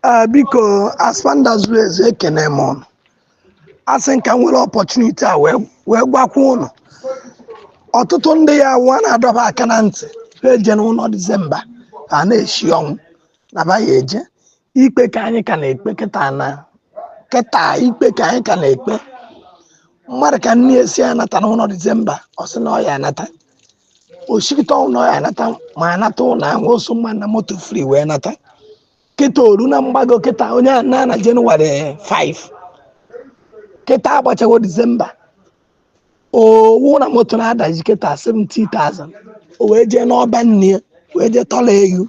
Ee, biko asfanda zuru ezu ekene m ụnụ asị m ka m nwere opportunity a wee wee gwakwa ụnụ ọtụtụ ndị ya wụ a na-adọ ba aka na ntị ha ejena ụnọ December ha na-eshi ọnwụ na ba ya eje ikpe ka anyị ka na-ekpe kịta na kịta ikpe ka anyị ka na-ekpe mmadụ ka nne ya sị anatana ụnọ December ọ sị na ọ ya anata o sikita ọnwụ na ọ ya anata ma anata ụlọ ahụ o so mma na moto free wee nata kịta o ru na mgbago kịta onye a na na January 5 kịta agbachawo December ọ wụ na moto na-adaji kịta 70,000 o wee jee n'ọba nne ya wee jee tọla eyu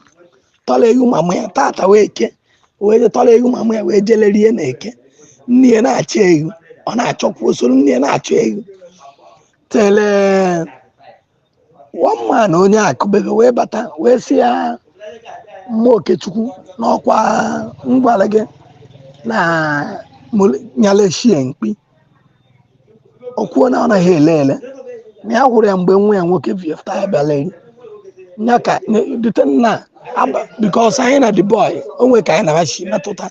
tọla eyu mama ya tata wụ eke o wee jee tọla eyu mama ya wee jee lerie na eke nne ya na-achọ eyu ọ na-achọkwa o soro nne ya na-achọ eyu tere one man onye akụbebe wee bata wee sị ya mama Okechukwu na ọkwa m gwara gị na nya leshie mkpi o kwuo na ọ naghị ele ele na ya hụrụ ya mgbe nwa ya nwoke viefta ya bịa lerie ya ka dute nna because anyị na the boy o nwere ka anyị na ba si metụta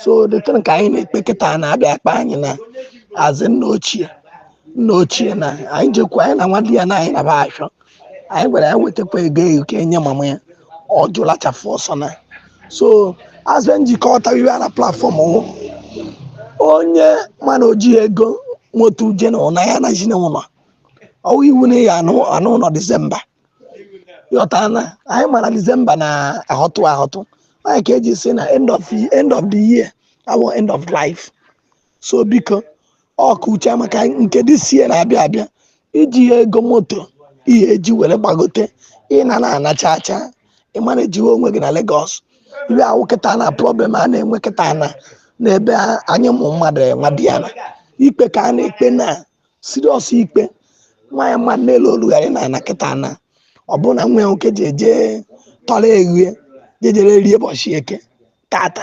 so the thing ka anyị na-ekpe kịta na a bịa akpọ anyị na a sị nna ochie nna ochie na anyị jekwu anyị na nwadiana anyị naba achọ anyị gwara ya wetakwa ego eyu ka e nye mama ya ọ jụlachafụ ọsọ na so azụ njikọta iwe a na platform wụ onye ma na o ji ego moto uje na ụna ya anazina ụnọ ọ wụ iwu na ya ana ana ụnọ December yọta na anyị mara December na ahọtụ ahọtụ anyị ka eji si na end of end of the year awụ end of life so biko ọkacha maka nke this year na-abịa abịa i jihe ego moto ihe e ji were gbagote ị na na-anacha acha ị mara ejiwe onwe gị na Lagos iwe a wụ kịta na problem a na-enwe kịta na n'ebe a- anyị ụmụ mmadụ nwadiana ikpe ka a na-ekpe na serious ikpe nwaanyị maa n'elu olugharị na ana kịta na ọ bụrụ na nwa ya nwoke ji eje tọrọ eghu je jee rerie ụbọchị eke tata